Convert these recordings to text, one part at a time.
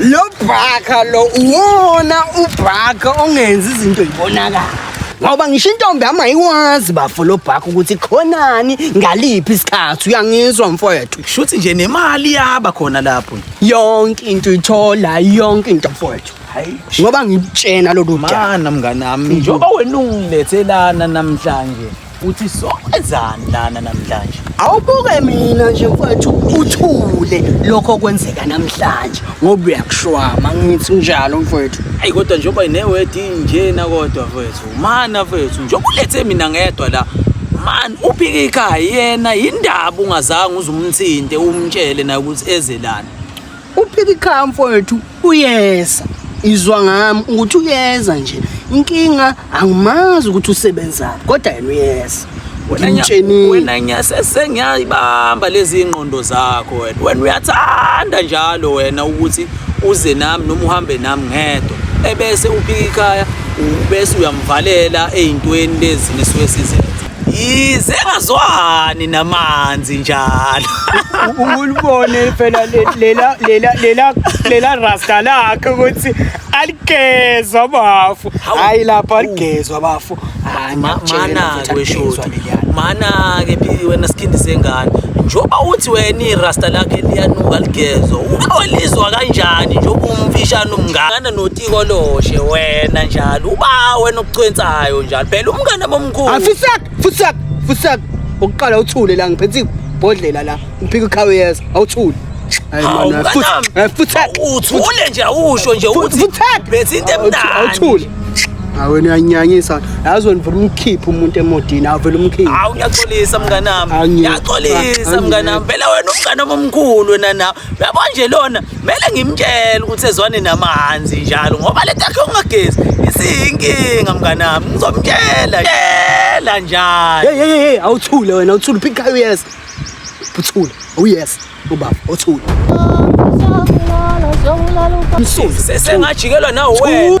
lo bhaka lo uwona ubhaka ongenza izinto yibonakala ngoba ngisho intombi yami ayikwazi bafo lo bhaka ukuthi khonani ngaliphi isikhathi uyangizwa mfowethu shuthi nje nemali yaba khona lapho yonke into ithola yonke into mfowethu ngoba ngikutshena lolu mana mnganami njengoba wena ungilethelana namhlanje uthi sokwenzani lana namhlanje awubuke mina nje mfowethu uthule lokho okwenzeka namhlanje ngoba uyakushwama ngithi njalo mfowethu ayi kodwa njengoba inewedi njena kodwa mfowethu mana mfowethu njengoba ulethe mina ngedwa la man uphike ikhaya yena yindaba ungazange uzumthinte umtshele naye ukuthi eze lana Uphika ikhaya mfowethu uyeza. Izwa ngami ukuthi uyeza nje. Inkinga angimazi ukuthi usebenzaphi kodwa yena uyeza. Wena ngitsheni. Wena ngiyasese ngiyayibamba lezi ingqondo zakho wena. Wena uyathanda njalo wena ukuthi uze nami noma uhambe nami ngedwa. Ebese uphika ikhaya ubese uyamvalela ezintweni lezi nisuke sizenza. yize engazwani namanzi njalo ulibone phela lela lela lela lela rasta lakhe ukuthi aligezwa bafu hayi lapha aligezwa bafu mana ke shoti mana ke phili wena sikhindi sengane njoba uthi wena irasta lakhe liyanuka ligezwa uwelizwa kanjani njoba umfishana umngane notiko loshe wena njalo uba wena okucwensayo njalo phela umngane mkhulu afusak fusak fusak ukuqala uthule la ngiphethe ibhodlela la ngiphika ikhawe yeza awuthule uthule nje awusho nje ukuthi bese into emnandi awuthule awe niyanyanyisa yazi wena vele umkhiphe umuntu emodini avele umkhiphe awu ngiyaxolisa mnganami ngiyaxolisa mnganami phela wena umnganami omkhulu wena nawe yabo nje lona kumele ngimtshele ukuthi ezwane namahanzi njalo ngoba le takhe ungagezi isiyinkinga mnganami ngizomtshela tshela njalo hey hey hey awuthule wena uthule phika uyes uthule uyes oh, ubaba uthule sengajikelwa nawe wena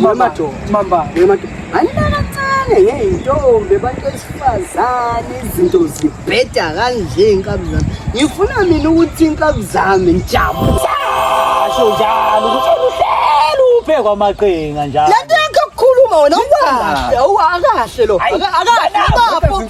Mama do, mama, mama do. Anilala kancane ngeyintombi abantu besifazane izinto zibheda kanje inkabi zami. Ngifuna mina ukuthi inkabi zami ngijabule. Asho njalo ukuthi uhlelo ubhekwa amaqinga njalo. Lento yakho kukhuluma wena ukahle, ukahle lo. Akahle bafo.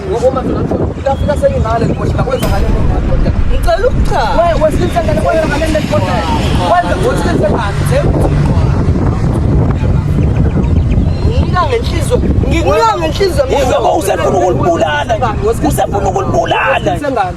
Ngikuya ngenhliziyo. Uzoba usefuna ukulibulala. Usefuna ukulibulala.